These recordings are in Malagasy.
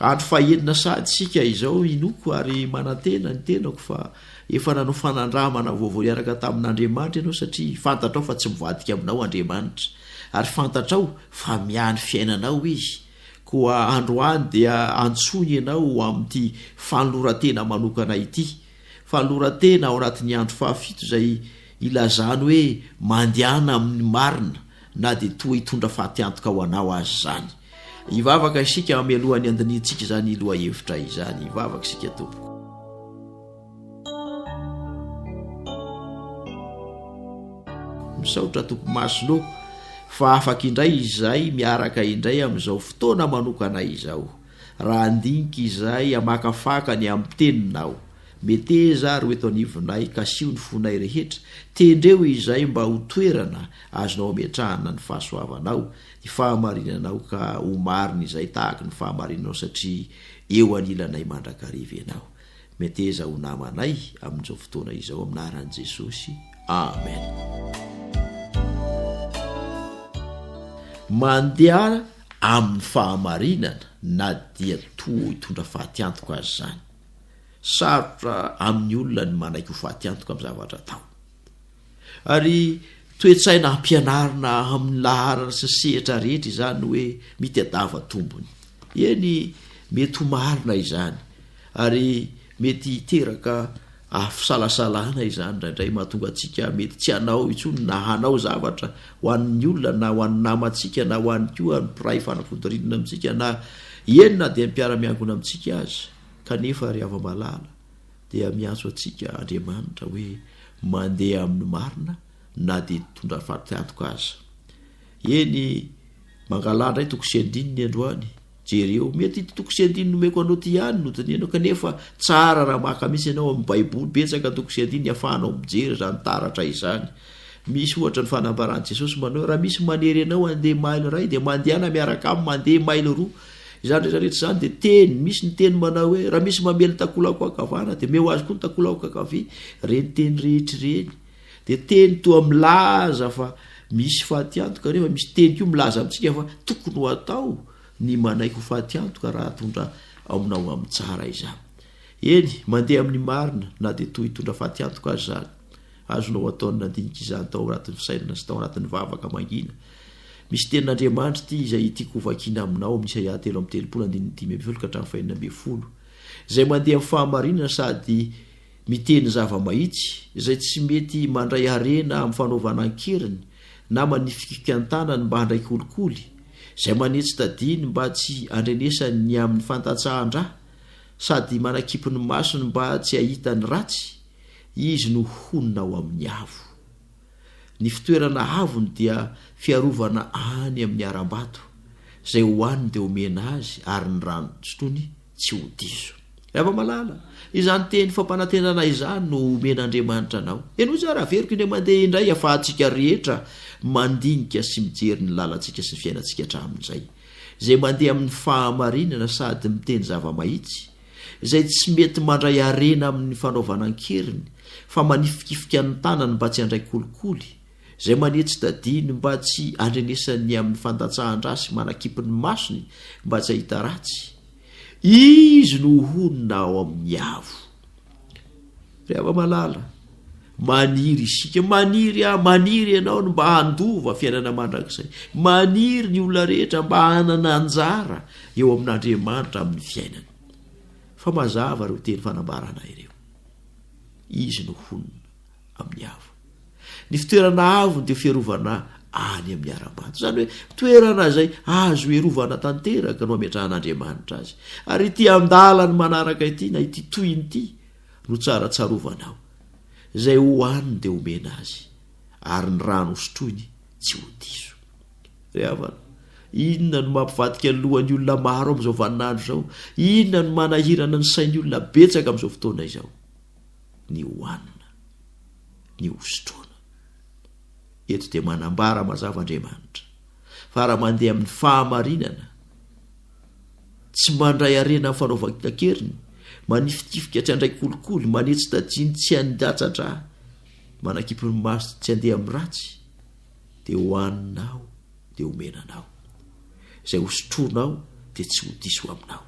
Andro fahenina sahady isika izao inoako ary manantena ny tenako fa efa nanao fanandramana vaovao hiaraka tamin'Andriamanitra ianao satria fantatrao fa tsy mivadika aminao Andriamanitra ary fantatrao fa miahy ny fiainanao Izy koa androany dia antsoiny ianao ho amin'ity fanolorantena manokana ity fanolorantena ao anatin'ny andro fahafito izay ilazany hoe mandehana amin'ny marina na dia toa hitondra fatiantoka ho anao aza izany. Hivavaka isika hameloha ny handinihintsika izany lohahevitra izany. Hivavaka isika tompoko. Misaotra tompo masino fa afaka indray izay miaraka indray amin'izao fotoana manokana izao. Raha andinika izay amakafaka ny amin'ny teninao. Meteza ary ho eto anivonay kasiho ny fonay rehetra. Tendreo izay mba ho toerana azonao ametrahana ny fahasoavanao ny fahamarinanao ka ho marina izay tahaka ny fahamarinanao satria eo anilanay mandrakariva ianao. Meteza ho namanay amin'izao fotoana izao amin'ny anaran'i Jesosy. Amen. Mandeha amin'ny fahamarinana na dia toa hitondra fatiantoka aza izany. Sarotra amin'ny olona ny manaiky ho fatiantoka amin'ny zavatra atao. Ary toe-tsaina ampianarina amin'ny laharana sy sehatra rehetra izany hoe mitadiava tombony. Eny, mety ho marina izany, ary mety hiteraka fisalasalana izany indraindray mahatonga antsika mety tsy hanao intsony na hanao zavatra ho an'ny olona na ho an'ny namantsika na ho an'ny koa ny mpiray fanafodirinina amintsika na eny na dia ny mpiara-miangona amintsika aza. Kanefa ry hava-malala, dia miantso antsika Andriamanitra hoe mandeha amin'ny marina na dia hitondra faty antoka aza. Eny, mangalà indray toko sy andininy androany. Jereo, mety ity toko sy andininy nomeko anao ity ihany no dinihano kanefa tsara raha maka mihitsy ianao amin'ny Baiboly, betsaka ny toko sy andininy ahafahanao mijery izany taratra izany. Misy ohatra ny fanambaran'i Jesosy manao hoe raha misy manery anao handeha mailo iray dia mandehana miaraka aminy mandeha mailo roa Izany rehetra rehetra izany dia teny, misy ny teny manao hoe, raha misy mamely ny takolako ankavana dia meo azy koa ny takolako ankavia, ireny teny rehetra ireny dia teny toa milaza fa misy fatiantoka nefa misy teny koa milaza amintsika fa tokony ho atao ny manaiky ho fatiantoka raha atondra aminao amin'ny tsara izany. Eny, mandeha amin'ny marina na dia toa hitondra fatiantoka azy izany. Azonao atao ny nandinika izany tao anatin'ny fisainana sy tao anatin'ny vavaka mangina. Misy tenin'Andriamanitra ity izay tiako hovakiana aminao amin'ny Isaia telo amby telopolo andininy dimy ambin'ny folo ka hatramin'ny fahenina ambin'ny folo, izay mandeha amin'ny fahamarinana sady miteny zava-mahitsy, izay tsy mety mandray harena amin'ny fanaovana an-keriny na manifikifika ny tanany mba handray kolikoly, izay manetsy tadiny mba tsy handrenesany ny amin'ny fandatsahan-dra sady manakipy ny masony mba tsy hahita ny ratsy, izy no honina ao amin'ny avo. Ny fitoerana avony dia fiarovana any amin' ny harambato, izay hohaniny dia omena azy, ary ny rano sotroiny tsy ho diso. Ry afa-malala, izany teny fampanantenana izany no omen' Andriamanitra anao. Henoy tsara, averiko indray mandeha indray ahafahantsika rehetra mandinika sy mijery ny lalantsika sy ny fiainantsika hatramin' izay. Izay mandeha amin' ny fahamarinana sady miteny zava-mahitsy, izay tsy mety mandray harena amin'ny fanaovana an-keriny fa manifikifika ny tanany mba tsy handray kolikoly, izay mania tsy tadiny mba tsy handrenesany amin'ny fandatsahan-dra sy manakipy ny masony mba tsy hahita ratsy. Izy no honina ao amin'ny avo. Ry hava-malala, maniry isika. Maniry aho, maniry ianao ny mba handova fiainana mandrakizay. Maniry ny olona rehetra mba hanana anjara eo amin'Andriamanitra amin'ny fiainany. Fa mazava ireo teny fanambarana ireo. Izy no honina amin'ny avo. Ny fitoerana avony dia fiarovana any amin'ny ara-maty. Izany hoe toerana izay azo herovana tanteraka no ametrahan'Andriamanitra azy. Ary ity andalany manaraka ity na ity tohiny ity no tsara tsarovanao, izay ho haniny dia homena azy, ary ny rano hosotroiny tsy ho diso. Ry havana, inona no mampivadika ny lohan'ny olona maro amin'izao vaninandro izao? Inona no manahirana ny sain'ny olona betsaka amin'izao fotoana izao? Ny hohanina, ny hosotroana. Eto dia manambara mazava Andriamanitra fa raha mandeha amin'ny fahamarinana tsy mandray harena amin'ny fanaovan-keriny, manifitifika tsy handray kolikoly, manetsy tajiny tsy handatsa-dra, manakipy ny maso tsy handeha amin'ny ratsy, dia hohaninao dia homena anao, izay hosotroinao dia tsy ho diso aminao.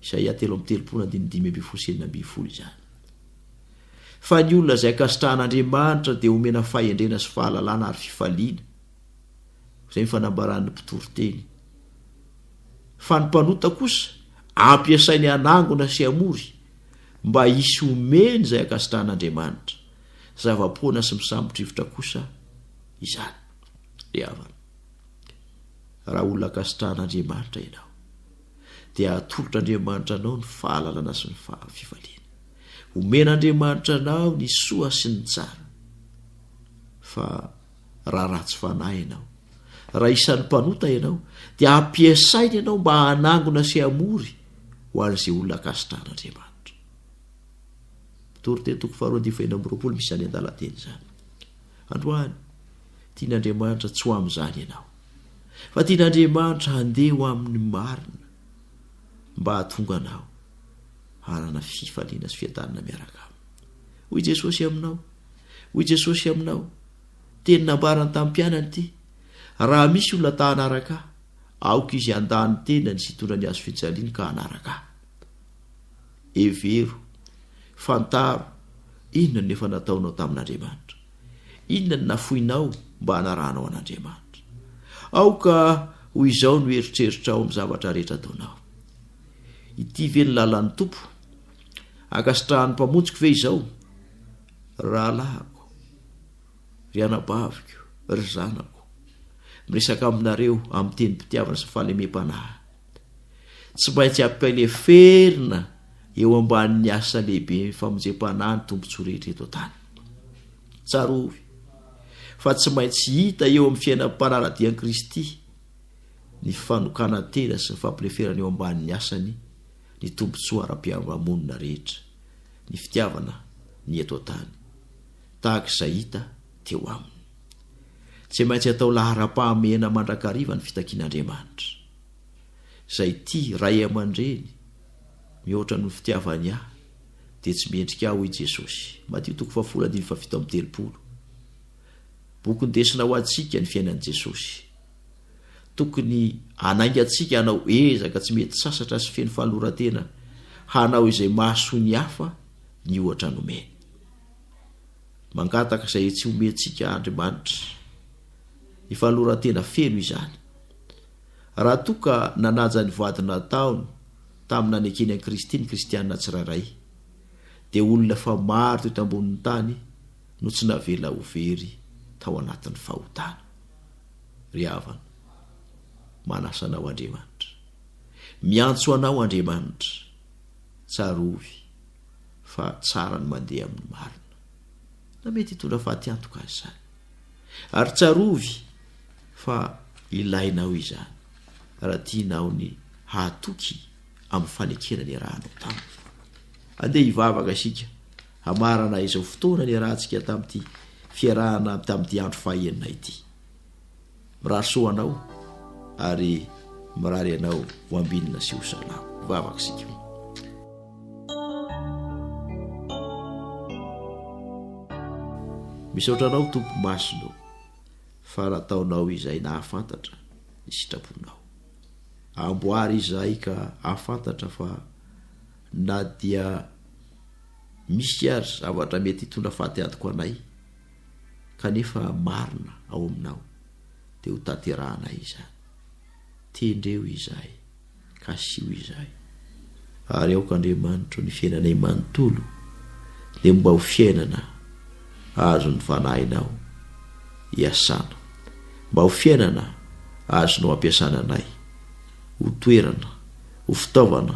Isaia telo amby telopolo andininy dimy ambin'ny folo sy enina ambin'ny folo izany. Fa ny olona izay ankasitrahan'Andriamanitra dia homena fahendrena sy fahalalana ary fifaliana. izay ny fanambaran'ny mpitoriteny. Fa ny mpanota kosa ampiasainy hanangona sy hamory mba hisy omeny izay ankasitrahan'Andriamanitra. Zava-poana sy misambotrivotra kosa izany. Ry havana, raha olona ankasitrahan'Andriamanitra ianao, dia atolotr'Andriamanitra anao ny fahalalana sy ny fifaliana. Omen'Andriamanitra anao ny soa sy ny tsara. Fa raha ratsy fanahy ianao. Raha isan'ny mpanota ianao, dia ampiasainy ianao mba hanangona sy hamory ho an'izay olona ankasitrahan'Andriamanitra. Mitory teny toko faharoa andivo enina amby roapolo misy izany andalan-teny izany. Androany, tian'Andriamanitra tsy ho amin'izany ianao, fa tian'Andriamanitra handeha ho amin'ny marina mba hahatonga anao hanana fifaliana sy fiadanana miaraka aminy. Hoy Jesosy aminao, Hoy Jesosy aminao, Teny nambarany tamin'ny mpianany ity, Raha misy olona ta hanaraka Ahy, aoka izy handà ny tenany sy hitondra ny hazo fijaliany ka hanaraka Ahy. Hevero, fantaro, inona no efa nataonao tamin'Andriamanitra. Inona no nafoinao mba hanarahanao an'Andriamanitra. Aoka ho izao no eritreritrao amin'ny zavatra rehetra ataonao. Ity ve no lalan'ny Tompo? Ankasitrahan'ny Mpamonjiko ve izao, ry rahalahiko, ry anabaviko, ry zanako, miresaka aminareo amin'ny tenim-pitiavana sy fahalemem-panahy? Tsy maintsy ampeleferina eo ambanin'ny asa lehibe famonjempanahy ny tombontsoa rehetra eto an-tany. Tsarovy fa tsy maintsy hita eo amin'ny fiainan'ny mpanara-dian'i Kristy ny fanokanan-tena sy ny fampileferana eo ambanin'ny asany ny tombontsoa ara-piarahamonina rehetra, ny fitiavana ny eto an-tany, tahaka izay hita teo aminy. Tsy maintsy atao laharam-pahamehana mandrakariva ny fitakian'Andriamanitra. Izay tia ray aman-dreny mihoatra noho ny fitiavany ahy dia tsy mendrika ahy, hoy Jesosy, Matio toko fahafolo andininy fahafito amby telopolo. Boky ndesina ho antsika ny fiainan'i Jesosy. Tokony hanaingantsika hanao ezaka tsy mety sasatra sy feno fahaloran-tena hanao izay mahasoa ny hafa ny ohatra nomeny. Mangataka izay tsy homentsika Andriamanitra. Ny fahaloran-tena feno izany. Raha toa ka nanaja ny voady nataony tamin'ny nanekeny an'i Kristy ny kristiana tsirairay, dia olona efa maro teto ambonin'ny tany no tsy navela ho very tao anatin'ny fahotana. ry havana. Manasa anao Andriamanitra. Miantso anao Andriamanitra. Tsarovy fa tsara ny mandeha amin'ny marina, na mety hitondra fatiantoka aza izany. Ary tsarovy fa ilainao izany raha tianao ny hahatoky amin'ny fanekena niarahanao taminy. Andeha hivavaka isika. Hamarana izao fotoana niarahantsika tamin'ity fiarahana tamin'ity andro fahaenina ity. Mirary soa anao ary mirary anao ho ambinina sy ho salama. Vavaka isika. Misaotra anao Tompo Masina o fa nataonao izay nahafantatra ny sitraponao. Amboary izahay ka hahafantatra fa na dia Misy ary zavatra mety hitondra faty adiko anay kanefa marina ao aminao dia ho tanterahanay izany. Tendreo izahay, kasiho izahay. Ary aoka Andriamanitro ny fiainanay manontolo dia mba ho fiainana azon'ny Fanahinao iasana, mba ho fiainana azonao ampiasana anay ho toerana, ho fitaovana,